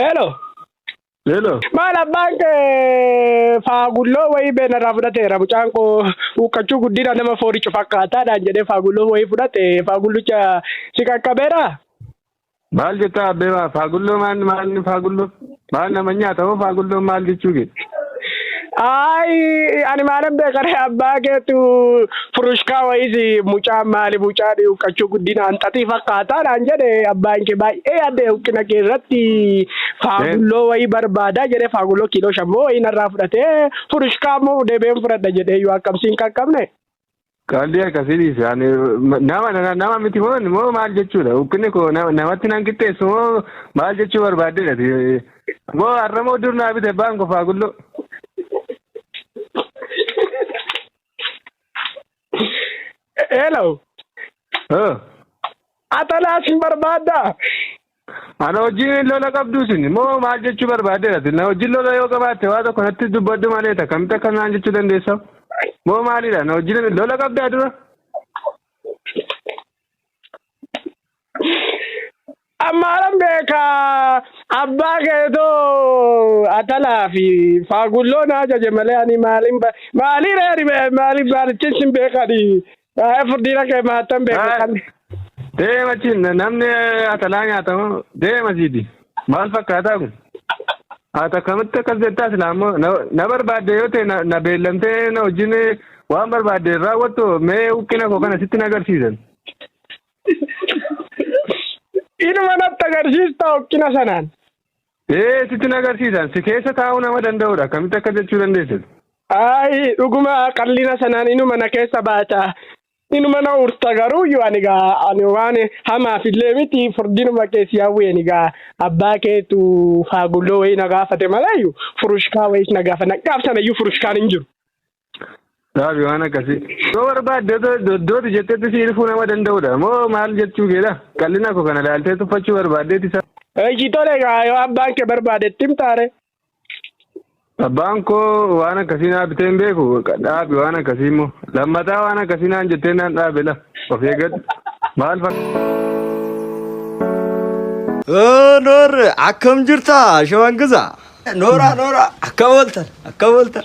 Hello. Hello. Maal abbaan kee faagulloo wayii beenarraa fudhateera mucaan koo huuqqachuu guddina nama fooricu fakkaataadhaan jedhee faagulloo wayii fudhate faagullicha si qaqqabeera. Maal jettaa abbee maa faagulloo maal maal faagulloo maal nama nyaata hoo faagulloo maal jechuu kee. Ayi ani maalan beekare abbaa keetu furushkaa wayisi mucaa maali mucaa dhiuqqachuu guddina hanxaxii fakkaataa naan jedhe abbaan kee baay'ee yaadde huqqina kee irratti faagulloo wayii barbaadaa jedhee faagulloo kiiloo shammoo wayii narraa fudhatee furushkaa immoo deebi'een fudhadha jedhee yoo akkamsiin qaqqabne. Qaalli akkasii dhiise ani nama nama- nama miti moo moo maal jechuudha ukkinni koo nama- namatti nan qixxeessu moo maal jechuu barbaaddeedha ti moo har'a moo dur naa bite baan kofaa gulloo. Hello. Oh. Atalaas hin barbaaddaa? Ana wajjin lola qabdu isin moo maal jechuu barbaaddeera isin na wajjin lola yoo qabaatte waa tokko natti dubbadhu malee akkamitti akka naan jechuu dandeessa moo maalidha na wajjin lola qabdaa dura Ammaaran beeka abbaa keetoo atalaa fi faagulloo na ajaje malee ani maalin ba maalii reeri maaliif baalichiin sin beekani Haa furdina kee maattan beeku Haa. kan. Deema achiin namni atalaa nyaatamu deema siiti. Maal fakkaataa kun? Haata akkamitti akkas jettaa silaa immoo na- na barbaadde yoo ta'e na- na beellamtee na wajjin waan barbaadde hin raawwattu mee huqqina koo kana sitti na agarsiisan. Inuma natti agarsiista hokkina sanaan. Ee sitti na agarsiisan si keessa taa'uu nama danda'udha akkamitti akka jechuu dandeessan. Ayi dhuguma qallina sanaan inuma na keessa baata inuma na urta garuu yoo ani gaa ani waan hamaaf illee miti furdinuma keessi hawweeni gaa abbaa keetu faagulloo wayii na gaafate malayyu furushkaa wayiis na gaafa na gaafsanayyuu furushkaan hin jiru. Dhaabi waan akkasii. Yoo barbaadde doddooti jettetti si ilfuu nama danda'udha. Moo maal jechuu keedha? Qal'ina koo kana ilaaltee tuffachuu barbaaddeeti isaa. Eeshi tole gaa yoo abbaan kee barbaade itti himtaare. Abbaan koo waan akkasii naa bitee hin beeku. Dhaabi waan akkasii immoo. Lammataa waan akkasii naan jettee naan dhaabe la. Of eeggadhu. Maal fakkaata? Noor akkam jirta shawan gisa. Nooraa nooraa akkam ooltan akkam ooltan.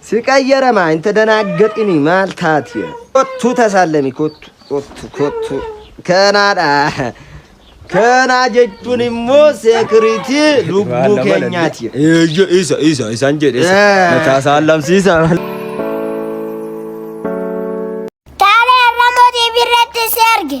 Si qayyaramaa hin tadanaaggaxini maal taati. Kottu tasaallemi kottu kottu kottu kanaadha. Kanaa jechuun immoo seekiriitii lubbuu keenyaati. Eeyyo isa isa isaan jedhe isa. Eh. Mataa isaa lamsiisa. Taalee Arramoo TV irratti si arge.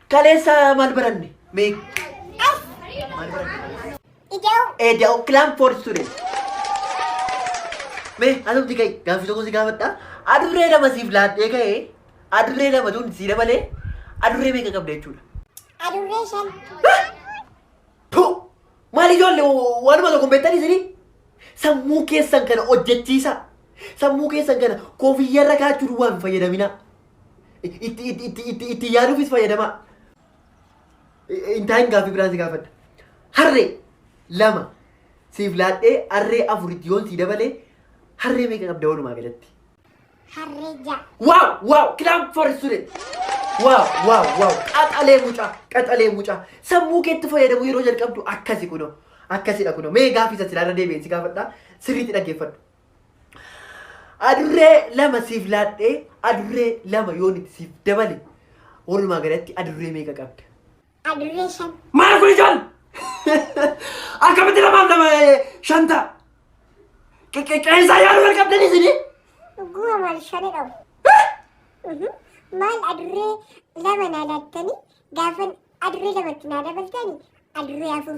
Kaleessa maal baranne? Mee maal baranne? Ida'u. Eda'u kilaan foor students. Mee asumti ka'e gaaffii tokko si gaafadha. Adurree lama siif laattee ka'e adurree lama tun si dabalee adurree meeqa qabda jechuudha. Adurree shan. Tu! Maal ijoollee waanuma tokko hin beektan isinii? Sammuu keessan kana hojjechiisa. Sammuu keessan kana kofiyyarra kaa'achuu duwwaa hin fayyadaminaa. Itti itti itti itti itti yaaduufis fayyadamaa. Intaayin gaaffii biraan si gaafadha. Harree lama siif laadhee harree afur itti yoon sii dabalee harree meeqa qabda walumaa galatti? Harree ja'a. Wow, wow, clap for student. Wow, wow, wow. Qaxalee mucaa, qaxalee mucaa. Sammuu keetti fayyadamuu yeroo jalqabdu akkasi kunoo. Akkasidha kunoo. Mee gaaffii isa silaarra deebi'een si gaafadha. Sirriitti dhaggeeffadhu. Adurree lama siif laadhee adurree lama yoon itti siif dabale walumaa galatti adurree meeqa qabda? Adurree shan. Maal kun ijoon? Akkamitti lamaaf lama eh, shan ta'a? Qe- qe- Qeensaa yaaduu wal qabdan isinii? Dhuguma maal shani dhawu. Mhm. Maal adurree lama naa laattanii gaafan adurree lamatti naa dabaltanii adurree afur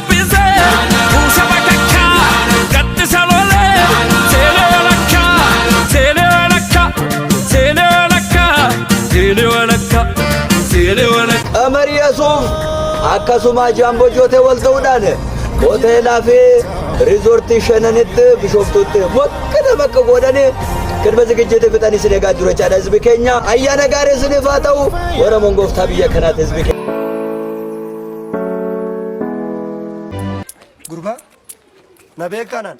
Amariyasuuf akkasuma jaamboo jootee wal ta'uudhaan hoteelaa fi riizoortii shananitti bishooftuutti mokkata bakka godhanii kirba zigijjiitti fixanii sin egaa jiru jechaadha hizbi keenya ayyaana gaarii isiniif haa ta'u warra mongooftaa biyya kanaati hizbi keenya. Gurbaa na beekaanaan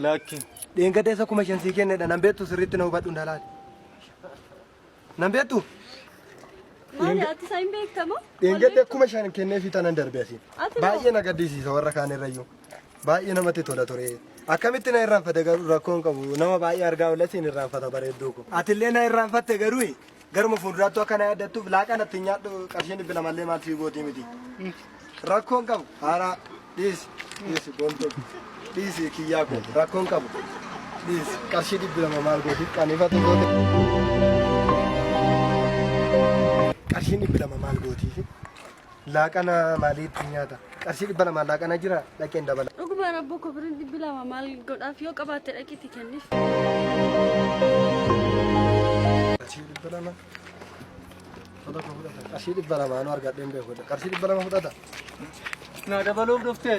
Lakki. dheengadeessa kuma shan sii kennedha nan beektu sirriitti na hubadhu dalaali. Nan beektu Maali ati isaa hin beektamoo? dheengadde kuma shan kennee fi tanan darbe asiin. Ati moo? Baay'ee na gaddisiisa warra kaan irrayyuu. Baay'ee namatti tola ture. Akkamitti na irraanfate garuu rakkoon qabu nama baay'ee argaa oolasiin irraanfata bareedduu ko. Atillee na irraanfatte garuu Garuma fuulduraattuu akka na yaaddattuuf laaqaa natti hin nyaadhu qarshii dhibbi lamallee maal sii gootii miti. Rakkoon qabu haaraa dhiisi dhiisi boontuu dhiisi kiyyaa koo rakkoon qabu dhiisi qarshii dhibbi lama maal gootii qaniifatu goote. Qarshii dhibbi lama maal gootiifi Laaqana maalii ittiin nyaata? Qarshii dhibba lamaan laaqana jira dhaqeen dabala. Dhuguma rabboo koo birrii dhibbi lama maal godhaaf yoo qabaatte dhaqiitti kenniif. Qarshii dhibba lama. Fudhata fudhata. Qarshii dhibba lamaanuu argadheen beekudha. Qarshii dhibba lama fudhata. Naa dabaluuf dhuftee?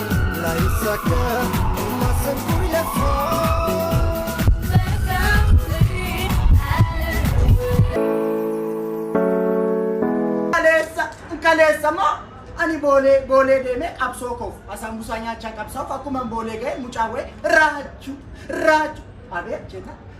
Kaleessa kaleessa moo ani boolee boolee deemee qabsoo koof asaan busaa nyaachaa qabsaa'uuf akkuma boolee ga'e mucaa wa'e raachuu raachuu abeet jeeta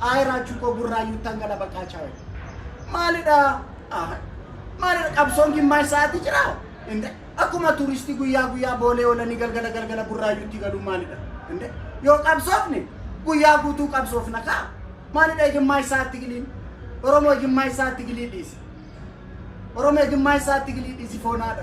Ayi Raachuu koo Burraayyuuttan gala baqaa chaawu. Maalidha? Ah, Maalidha qabsoon gimmaash sa'aatii jira? Inde akkuma turistii guyyaa guyyaa boolee oolanii galgala galgala Burraayyuutti galuun maalidha? Inde yoo qabsoofne guyyaa guutuu qabsoofna kaa. Maalidha gimmaash sa'aatti giliin? Oromoo gimmaash sa'aatti gilii dhiisi. Oromoo gimmaash sa'aatti gilii dhiisi foonaadha.